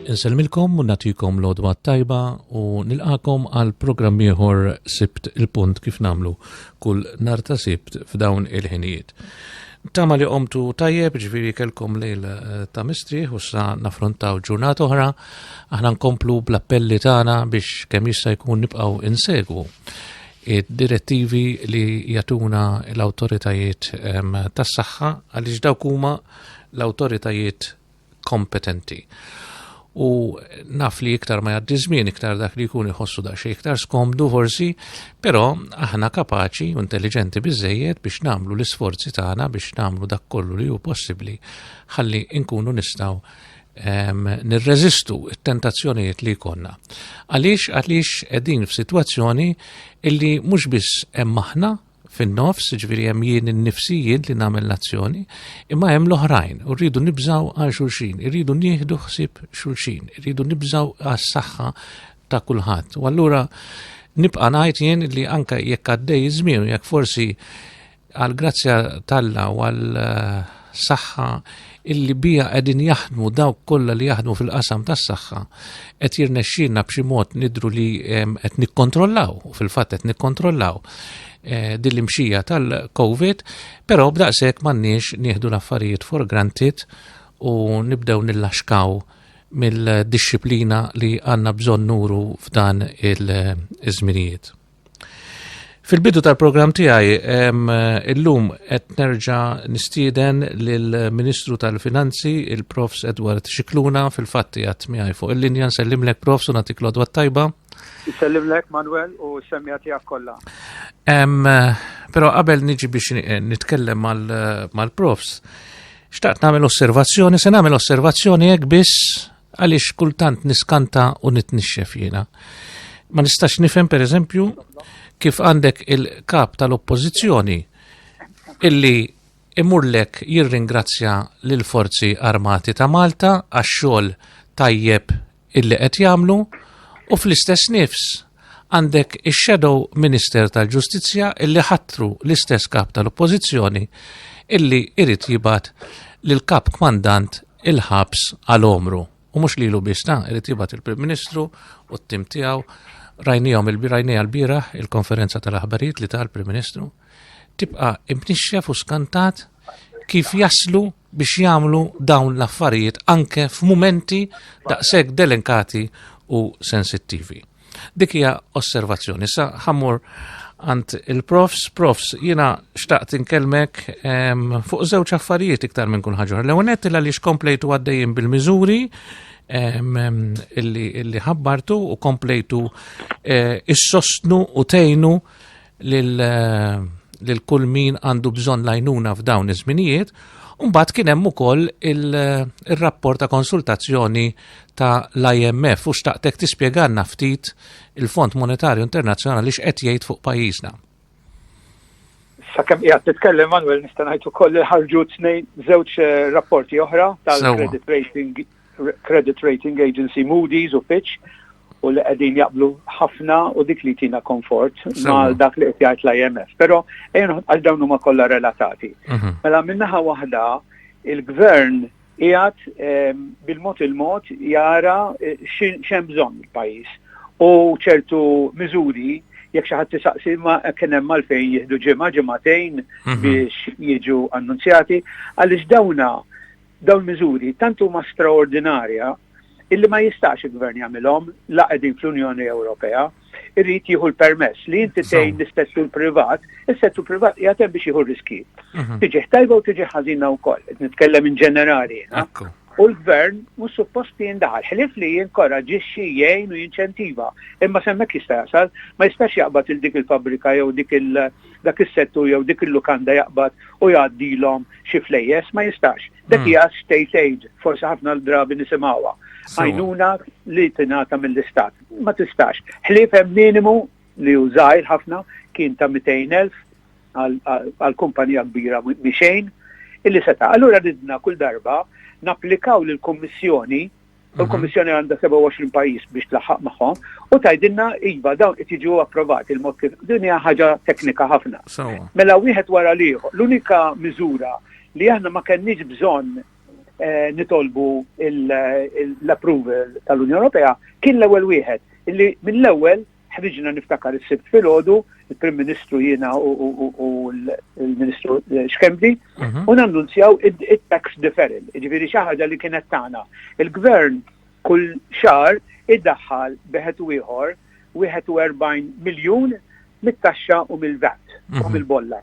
Insellmilkom u nagħtikom l-għodwa tajba u nilqakom għal programm ieħor sibt il-punt kif namlu kull nar ta' sibt f'dawn il-ħinijiet. Tama li qomtu tajjeb ġviri kelkom lejl eh, ta' mistrieħ u sa' nafrontaw ġurnat oħra, aħna nkomplu bl-appelli tagħna biex kemm jista' jkun nibqgħu insegwu id-direttivi li jatuna l-autoritajiet ehm, tas-saħħa għaliex dawk huma l-autoritajiet kompetenti. U naf li iktar ma jaddi żmien iktar dak li jkun iħossu da xejn iktar skomdu forsi, però aħna kapaċi u intelligenti biżejjed biex nagħmlu l-isforzi tagħna biex nagħmlu dak kollu li hu possibbli ħalli nkunu nistgħu nirreżistu it-tentazzjonijiet li jkollna. Għaliex għaliex qegħdin f'sitwazzjoni illi mhux biss hemm aħna fin-nofs, ġviri hemm jien innifsi jien li nagħmel l-azzjoni, imma hemm l-oħrajn u rridu nibżaw għal xulxin, irridu nieħdu ħsieb xulxin, irridu nibżaw għas-saħħa ta' kulħadd. U allura nibqa' ngħid jien li anke jekk għaddej iż-żmien jekk forsi għal grazzja talla u għal eh, saħħa illi bija qegħdin jaħdmu dawk kollha li jaħdmu fil-qasam tas-saħħa qed jirnexxina b'xi mod nidru li qed nikkontrollaw, fil-fatt qed nikkontrollaw eh, din l-imxija tal-COVID, però b'daqshekk m'għandniex nieħdu l-affarijiet for granted u nibdew nillaxkaw mill-disciplina li għandna bżonn nuru f'dan il-żminijiet. Fil-bidu tal-programm tiegħi illum qed nerġa' nistieden lill-Ministru tal-Finanzi, il-Profs Edward Xikluna, fil-fatti għat miegħi fuq il-linja nsellimlek Profs u nagħtik l-odwa tajba. Nsellimlek Manuel u semmija tiegħek kollha. Però qabel niġi biex nitkellem mal-Profs, xtaqt nagħmel osservazzjoni, se nagħmel osservazzjoni hekk biss Għaliex kultant niskanta u nitnixxef jiena. Ma nistax nifhem pereżempju kif għandek il-kap tal-oppożizzjoni illi imurlek jirringrazzja lil forzi armati ta' Malta għax-xogħol tajjeb illi qed jagħmlu u fl-istess nifs Għandek ix-Shadow Minister tal-Ġustizzja illi ħatru l-istess kap tal-Oppożizzjoni illi irid jibgħat lil kap kmandant il-ħabs għal omru. U mhux lilu biss ta' irid jibgħat il-Prim Ministru u t-tim tiegħu rajnijom il-birajnija l-biraħ il-konferenza tal-aħbarijiet li tal-Prim Ministru. tibqa' imnixxef u skantat kif jaslu biex jagħmlu dawn l-affarijiet anke f'mumenti daqshekk delinkati u sensittivi. Dik hija osservazzjoni sa ħammur għand il-profs, profs jiena xtaqt inkellmek fuq żewġ affarijiet iktar minn kun ħaġor. L-ewwel nett il għaliex komplejtu għaddejjin bil-miżuri illi ħabbartu u komplejtu eh, is-sostnu u tejnu lil kull min għandu bżonn lajnuna f'dawn iż-żminijiet, Umbat kien hemm ukoll il-rapport ta' konsultazzjoni ta' l-IMF u xtaqtek tispjeganna ftit il-Fond Monetarju Internazzjonali x'qed jgħid fuq pajjiżna. Sakemm qiegħed titkellem Manuel nista' ngħid ukoll li ħarġu tnejn żewġ eh, rapporti oħra tal-credit rating credit rating agency Moody's u Fitch u li qegħdin jaqblu ħafna u dik li tina komfort ma' dak li qed jgħid l-IMF. Però għal dawn huma kollha relatati. Mhm. Mela minnaħa waħda il-gvern jgħat ehm, bil-mod il-mod jara eh, xem bżonn il-pajjiż u ċertu miżuri jekk xi ħadd tisaqsi ma kien hemm għalfejn jieħdu ġimgħa ġimgħatejn mhm. biex jiġu annunzjati għaliex dawna Dawn miżuri tant huma straordinarja illi ma jistax il-Gvern jagħmilhom la qegħdin fl-Unjoni Ewropea, irrid jieħu l-permess li inti tgħin l-settur privat, is-settur privat qiegħed hemm biex jieħu riski. Mhm. Tiġi tajba u tiġi ħażina wkoll, qed nitkellem in ġenerali. U l-gvern mhux suppost jindaħal ħlif li jinkoraġixxi jgħin u jinċentiva. Imma semmek jista' jasal, ma jistax jaqbad il dik il-fabrika jew dik dak is-settur jew dik il-lukanda jaqbad u jgħaddilhom xi flejjes, ma jistax. Dak hmm. hija state aid, forsi ħafna l-drabi nisimgħuha. Għajnuna li tingħata mill-istat. Ma tistax. Ħlief hemm minimu li użajr ħafna kien ta' 200,000 għal kumpanija kbira miexejn illi seta. Allura ridna kull darba napplikaw lill kummissjoni U l-Kommissjoni għandha 27 pajjiż biex tlaħħaq magħhom u tajdinna iva dawn qed jiġu approvati il-mod kif din hija ħaġa teknika ħafna. Mela wieħed wara li l-unika miżura li aħna ma kenniex bżonn eh, nitolbu l-approval tal-Unjoni Ewropea kien l-ewwel wieħed illi mill-ewwel Ħriġna niftakar is-Sibt filgħodu, il-Prim Ministru jiena u l-Ministru eh, Xkemdi, mhm. u nannunzjaw it-tax deferral, ġifieri xi ħaġa li kienet tagħna. Il-Gvern kull xar iddaħħal beħet u ieħor 41 miljun mit-taxxa u mill-VAT u mhm. mill-bolla.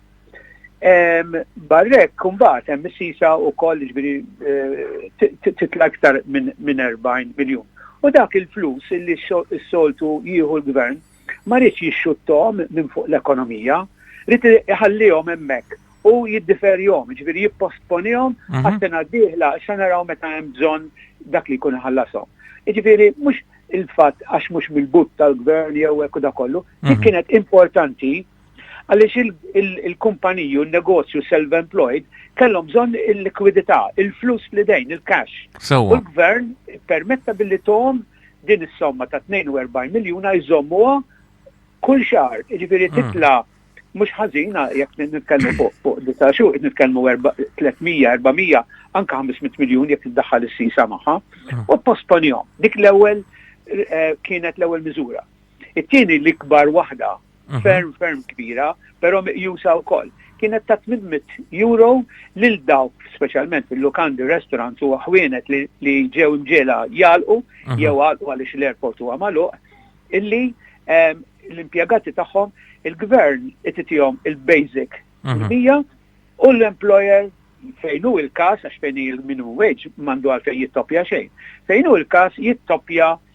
Barrek, kumbat, hemm is-sisa u koll ġbiri eh, titla iktar minn 40 miljon. U dak il-flus li s-soltu jieħu l-gvern ma rridx jixxuttom minn fuq l-ekonomija, rrid iħallihom hemmhekk u jiddiferjom, ġviri jipposponiehom mhm. għas-sena d-dieħla sa naraw meta hemm bżonn dak li jkun ħallasom. Ġviri, mhux il-fatt għax mhux mill-but tal-gvern jew hekk da kollu, mhm. kienet importanti Għaliex il-kumpaniji u n-negozju self-employed kellhom bżonn il-likwidità, il-flus li dejn, il-cash. U l-gvern permetta billi tom din is-somma ta' 42 miljuna jżommuha kull xahar, jiġifieri hmm. titla' mhux ħażina jekk nitkellmu fuq fuq disa' xhur, nitkellmu 300, 400, anke 500 miljun jekk iddaħħal is-sisa magħha, hmm. u posponihom. Dik l-ewwel eh, kienet l-ewwel miżura. It-tieni l-ikbar waħda mhm. ferm ferm kbira, però meqjusa wkoll. Kienet ta' 800 euro lil dawk speċjalment fil-lukandi restaurants u ħwienet li ġew imġela jalqu mhm. jew għalqu għaliex l-airport huwa magħluq illi ehm, l-impjegati tagħhom il-gvern ititihom il-basic mhm. mija u l-employer fejn hu il-każ għax fejn il-minu wage mandu għal fejn jittopja xejn. Fejn hu il-każ jittopja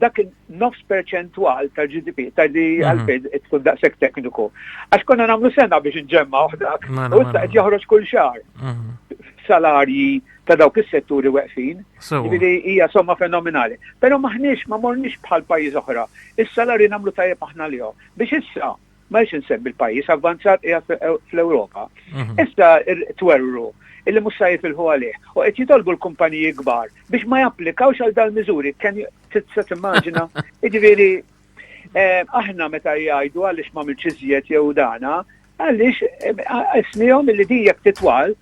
dak nofs perċentwal tal-GDP, tal li mhm. għalfejn tkun daqshekk tekniku. Għax konna nagħmlu sena biex nġemma dak, mela, u issa mela. qed joħroġ kull xahar. Mhm. Salarji ta' dawk is-setturi weqfin, jiġifieri hija somma fenomenali. Però maħniex ma morniex bħal pajjiż oħra. Is-salarji nagħmlu tajjeb aħna lihom. Biex issa ma rridx insemmi l-pajjiż avvanzat qiegħed fl-Ewropa, issa twerru illi mhux sa jifilħu għalih u qed jitolbu l-kumpaniji kbar biex ma japplikawx għal dal-miżuri kemm tista' timmaġina. Jiġifieri eh, aħna meta jgħidu għaliex ma milx iżjed jew dana, għaliex ismihom eh, illi din jekk titwal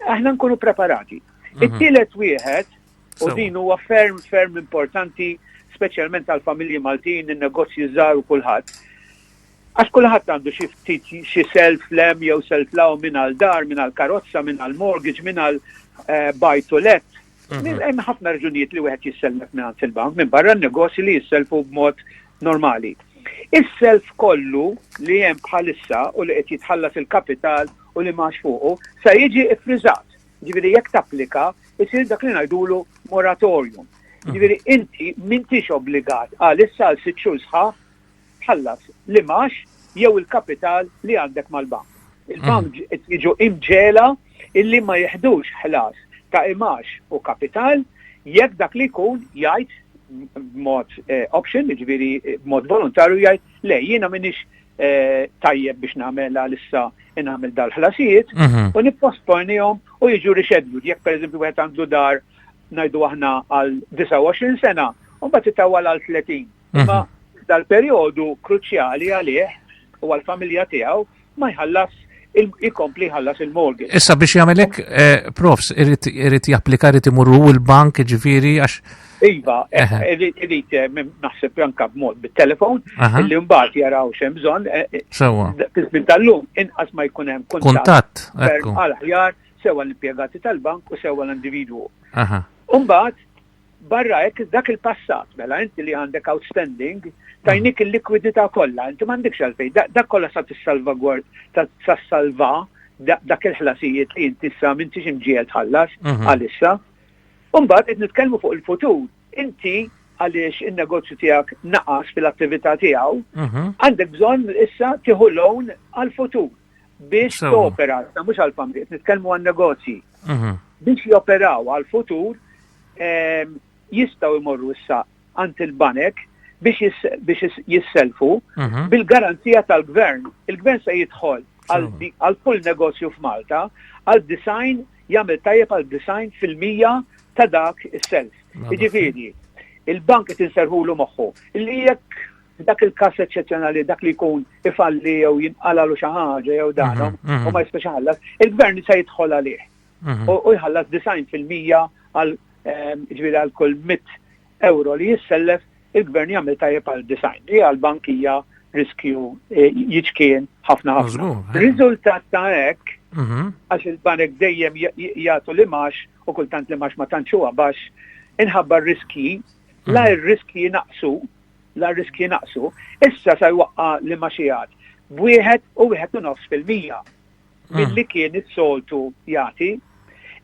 aħna nkunu preparati. Mhm. It-tielet wieħed U din huwa ferm ferm importanti speċjalment għal familji Maltin, in-negozji żgħar u kulħadd. Għax kulħadd għandu xi ftit xi self lem jew self law minn għal dar, minn għal karozza, minn għal mortgage, minn għal eh, buy to let. Mhm. Hemm ħafna raġunijiet li wieħed jissellef minn il-bank minn barra n-negozji li jisselfu b'mod normali. Is-self kollu li hemm bħalissa u li qed jitħallas il-kapital u li max fuqu sa jiġi iffriżat. Ġifieri jekk tapplika, isir dak li ngħidulu moratorium. Mm. Ġifieri inti m'intix obbligat għal issa għal sitt xhur sħaħ tħallas li max jew il-kapital li għandek mal-bank. Il-bank mm. jiġu imġela illi ma jihdux ħlas ta' imax u kapital jekk dak li jkun jgħid mod eh, option, ġviri eh, mod volontarju jgħid le jiena minix Eh, tajjeb biex nagħmel għalissa nagħmel dal-ħlasijiet mhm. u nipposponihom u jiġu rixeddu. Jekk pereżempju wieħed għandu dar ngħidu aħna għal 29 sena, u mbagħad titawwal għal 30. Mhm. Imma dal-perjodu kruċjali għalih u għall-familja tiegħu ma jħallas ikompli ħallas il-mortgage. Issa biex jagħmelek eh, profs irid japplika irid imurru l-bank ġifieri għax Iva, eh, irid eh, naħseb anka b'mod bit-telefon, li mbagħad jaraw xem bżonn. Sewwa. Fil-żmien tal-lum inqas ma jkun hemm kuntatt. Għal ħjar sewa l-impjegati tal-bank u sewa l-individwu. Umbagħad Barra hekk, dak il-passat, mela inti li għandek outstanding, tajnik il-likwidità kollha, inti m'għandekx għalfejn, dak kollha sa tissalvagward, sa salva dak il-ħlasijiet li inti sa m'intix imġiel tħallas mhm. għalissa. Umbagħad qed nitkellmu fuq il-futur, inti għaliex il-negozju tijak naqas fil-attività tijaw, mhm. għandek bżon issa tiħu loan għal-futur. biex topera, ta' mhux għal familji, nitkellmu għan negozji. Mhm. Biex joperaw għal futur ehm, jistgħu jmorru issa għand il-banek biex jisselfu mhm. bil-garanzija tal-gvern. Il-gvern se jidħol għal kull negozju f'Malta għal design jagħmel tajjeb għal design fil-mija ta' dak is-self. Jiġifieri, il-bank qed inserħulu moħħu li jekk F'dak il-każ eċċezzjonali dak li jkun ifalli jew jinqalalu xi ħaġa jew dan mhm, mhm. u ma jistax iħallas, il-gvern se jidħol għalih. Mhm. U jħallas design fil-mija għal ehm, ġifieri għal kull mit euro li jissellef il-gvern jagħmel tajjeb għal design. Li għal bankija riskju eh, jiċkien ħafna ħafna. Eh. Riżultat ta' hekk għax il-banek dejjem jagħtu li max u kultant li max ma tantxuha baxx inħabba riski la r-riski naqsu la r-riskji naqsu, issa sa jwaqqa' liema xi għadd b'wieħed u wieħed u nofs fil-mija milli kien is-soltu jagħti.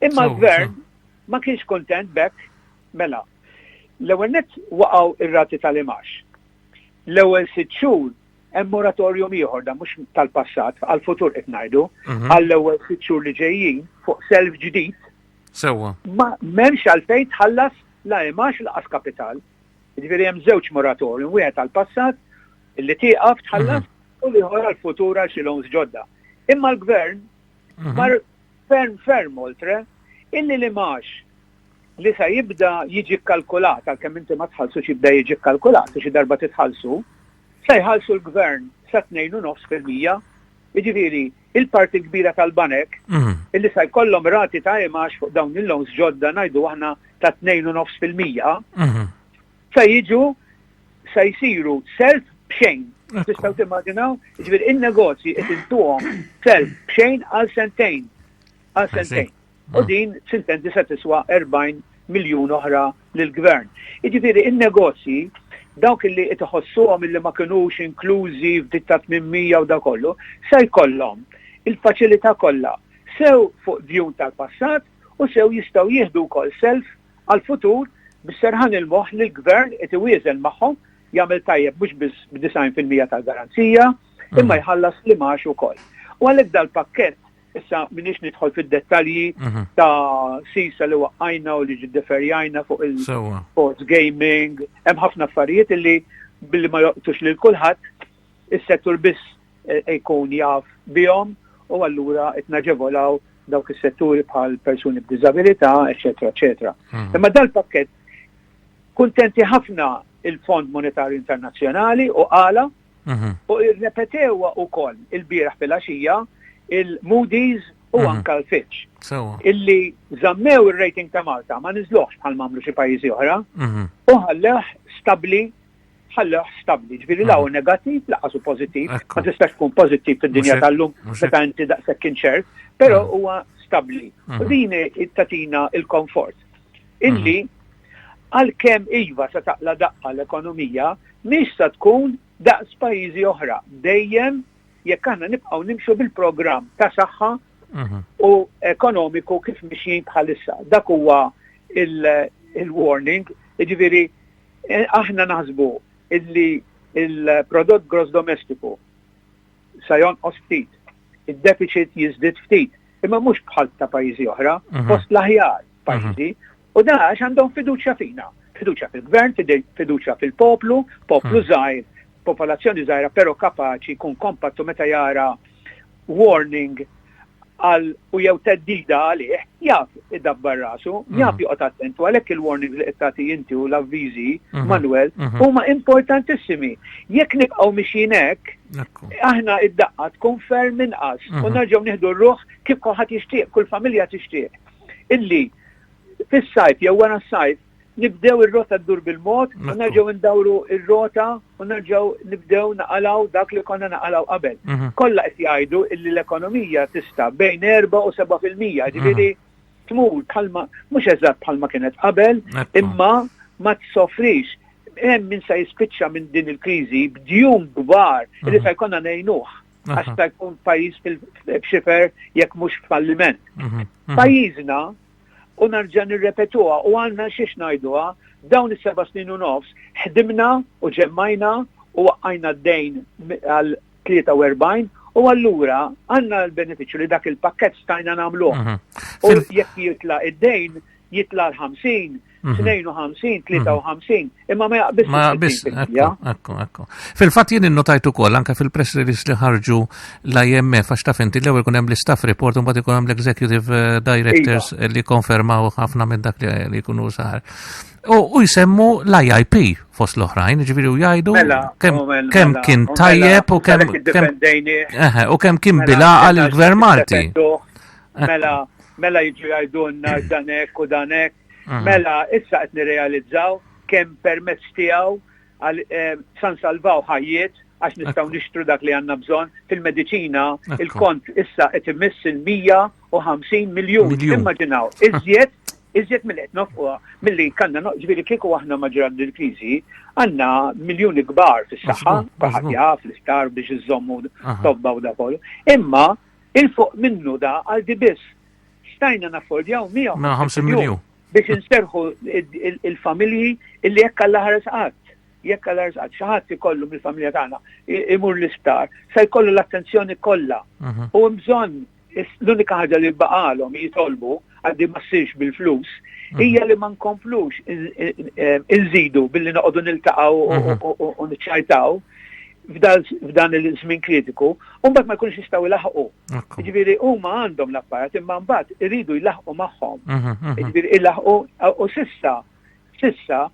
Imma l-Gvern ma kienx kuntent b'hekk mela. L-ewwel nett waqgħu r-rati tal-imax. L-ewwel sitt xhur hemm moratorium ieħor da mhux tal-passat għall-futur qed ngħidu għall-ewwel sitt xhur li ġejjin fuq self ġdid. Sewwa. Ma m'hemmx għalfejn tħallas la imax laqas kapital. Jiġifieri hemm żewġ moratorium, wieħed għall-passat li tieqaf tħallas mhm. u liħor għall-futur għal xi loans ġodda. Imma l-gvern mhm. mar ferm ferm oltre illi li max li sa jibda jiġi kalkulat, għal kemm inti ma tħallsu jibda jiġi kalkulat, xi darba titħallsu, sa jħallsu l-gvern sa 2.9 fil-mija, jiġifieri il-parti kbira tal-banek illi sa jkollhom rati ta' imax fuq dawn il-loans ġodda ngħidu aħna ta' 2.9% se jiġu se jsiru self b'xejn. Tistgħu timmaġinaw, ġifier in-negozji qed intuhom self b'xejn għal sentejn. Għal sentejn. U mm. din sintenti se tiswa 40 miljun oħra lill-gvern. Jiġifieri in-negozji dawk li qed iħossuhom illi ma kinux inklużi f'dik ta' 800 u da kollu, se jkollhom il-faċilità kollha sew fuq djun tal-passat u sew jistgħu jieħdu wkoll self għal-futur biex serħan il-moħħ li l-gvern qed iwieżen magħhom jagħmel tajjeb mhux biss b'90% tal-garanzija imma mhm. jħallas li max ukoll. U għalhekk dal-pakkett Issa minix nidħol fid-dettalji mhm. ta' sisa li waqqajna u li ġiddeferjajna fuq il-sports gaming, hemm ħafna affarijiet li billi ma joqtux lil kulħadd is-settur biss eh, jkun jaf bihom u allura qed naġevolaw dawk is-setturi bħal persuni b'diżabilità, eċetera, eċetera. Mhm. Imma dal-pakket kuntenti ħafna il-Fond Monetarju Internazzjonali u għala Mhm. U irrepetewa wkoll il-bieraħ fil-għaxija il-Moody's u mhm. anka l-Fitch. Illi zammew il-rating ta' Malta ma nizloħx bħal mamlu xi pajjiżi oħra mhm. u ħalleħ stabli ħalleħ stabli, ġviri law mhm. negativ, laqasu pozittiv, ma tistax tkun pozittiv fid-dinja tal-lum, meta inti daqshekk inċert, però huwa stabli. U din tatina il-komfort. Illi Għalkemm iva sa taqla' daqqa l-ekonomija, mhix sa tkun daqs pajjiżi oħra, dejjem jekk aħna nibqgħu nimxu bil-programm ta' saħħa u ekonomiku kif mixjin bħalissa. Dak huwa il-warning, jiġifieri eh, aħna naħsbu illi il-prodott gross domestiku sa jonqos ftit, id-deficit jiżdied ftit, imma mhux bħal ta' pajjiżi oħra, mhm. post l-aħjar pajjiżi, mhm. U dan għax għandhom fiduċja fina. Fiduċja fil-gvern, fiduċja fil-poplu, poplu hmm. żgħir, popolazzjoni żgħira però kapaċi kun kompattu meta jara warning għal u jew teddida għalih, jaf id-dabbar rasu, mm. jaf joqgħod attentu għalhekk il-warning li qed inti u l-avviżi, mhm. Manuel, mhm. huma importantissimi. Jekk nibqgħu mixjin hekk, aħna id-daqqa tkun ferm inqas u mhm. nerġgħu nieħdu r-ruħ kif kulħadd jixtieq, kull familja tixtieq. illi fis-sajf jew wara s-sajf nibdew ir-rota ddur bil-mod u nerġgħu ndawru ir-rota u nerġgħu nibdew naqalaw dak li konna naqalaw qabel. Mhm. Kollha qed jgħidu illi l-ekonomija tista' bejn 4 u 7 fil-mija, mhm. ġifieri tmur bħalma mhux eżatt bħalma kienet qabel, imma ma tsofrix hemm min sa jispiċċa minn din il-kriżi b'djum kbar li mhm. sa jkollna ngħinuh. għax ta' jkun pajjiż fil-xifer jekk mhux falliment. Mhm, mhm. Pajjiżna u narġa' nirrepetuha u għandna xiex ngħiduha dawn is-seba' snin u nofs ħdimna u ġemmajna u waqqajna d-dejn għal 43 U allura għanna l-beneficju li dak il-pakket stajna namlu. Mhm. U jekk jitla id-dejn, jitla l-50, 52, 53, imma ma jaqbis. Ma jaqbis, ekku, ekku. Fil-fat jien innotajtu kol, anka fil-press release li ħarġu l-IMF, għax taf inti l-ewel kunem l-staff report, un bat kunem l-executive eh, directors iva. li konfermaw ħafna minn dak li kunu saħar. U jisemmu l-IIP fost l-oħrajn, ġviri u jajdu mela, kem oh, mela, mela, oh, kien tajjeb u kem u kem kien bilaqa l-gvern Malti. Mela, mela jġu jajdunna danek u danek Mhm. Mela, issa qed nirrealizzaw kemm permezz tiegħu għal eh, san salvaw ħajjiet għax nistgħu nixtru dak li għandna bżonn fil-mediċina il-kont issa qed imiss il-150 miljun. Immaġinaw, iżjed iżjed mill qed nofquha milli kanna ġifieri kieku aħna ma ġrad il-kriżi għandna miljuni kbar fis-saħħa, ħatja fl-isptar biex iżommu tobba u da kollu. Imma il-fuq minnu da għal biss stajna naffordjaw 150 miljun biex inserħu il-familji illi jekk għall ħares qatt jekk għal ħares qatt xi ħadd ikollu mill-familja tagħna imur l-isptar se jkollu l-attenzjoni kollha. Mhm. U bżonn l-unika ħaġa li baqalhom jitolbu għaddi ma ssirx bil-flus mhm. hija li ma nkomplux inżidu billi noqogħdu niltaqgħu mhm. u niċċajtaw f'dan il-żmien kritiku, u mbagħad ma jkunx jistgħu ilaħqu Ġviri, huma għandhom l-apparat imma mbagħad iridu jlaħqu magħhom. Mhm, mhm. Ġviri, ilaħqu u sissa, sissa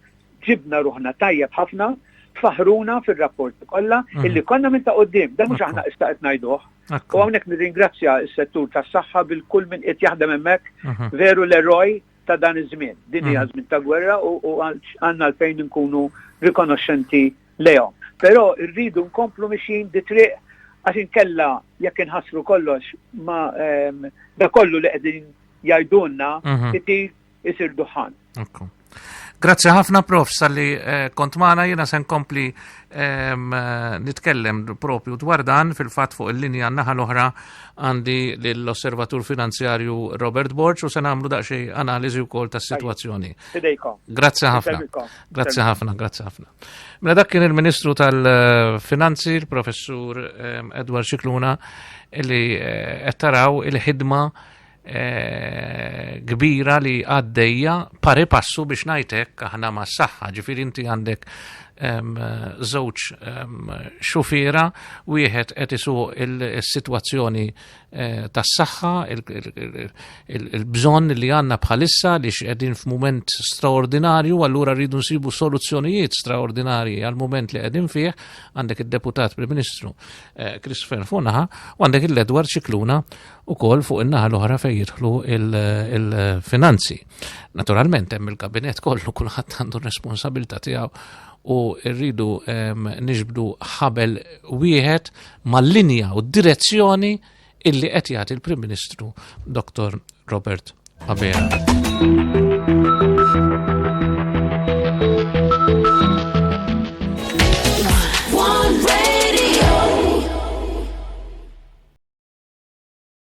ġibna ruħna tajjeb ħafna faħruna fil-rapport kollha mhm. illi konna minn ta' qoddim, da mhux aħna issa qed ngħiduh. U hawnhekk nirringrazzja s-settur tas-saħħa bil-kull minn qed jaħdem hemmhekk veru l-eroj ta' dan iż-żmien. Din hija żmien ta' gwerra u għandna l-fejn nkunu rikonoxxenti lejhom. Però rridu nkomplu mixjin di triq għax inkella jekk inħassru kollox ma ehm, da kollu li qegħdin jgħidulna mhm. itir isir duħan. Grazzi ħafna prof salli eh, kont maħna jena sen kompli ehm, eh, nitkellem propju dwar dan fil-fat fuq il-linja naħa l-oħra għandi l-osservatur finanzjarju Robert Borg u sen għamlu daqxie analizi u kol ta' situazzjoni. Grazzi ħafna. Grazzi ħafna, grazzi ħafna. Mela dak kien il-Ministru tal-Finanzi, il-Professur ehm, Edward Xikluna, li eh, qed taraw il-ħidma eh, kbira li għaddejja pari passu biex najtek aħna ma saħħa ġifir inti għandek ehm, żewġ ehm, xufira wieħed qed isuq il-sitwazzjoni il Eh, tas-saħħa, il-bżonn li għanna bħalissa li x'qegħdin f'mument straordinarju, allura rridu nsibu soluzzjonijiet straordinarji għal mument li qegħdin fih, għandek id-deputat Prim Ministru eh, Christopher Funaha u għandek il-Edward Ċikluna u kol fuq in-naħa l-oħra fejn jidħlu il-finanzi. Naturalment hemm il-kabinet kollu kulħadd għandu responsabilità tiegħu u rridu nixbdu ħabel wieħed mal-linja u d-direzzjoni illi qed jagħti l-Prim Ministru Dr. Robert Abela.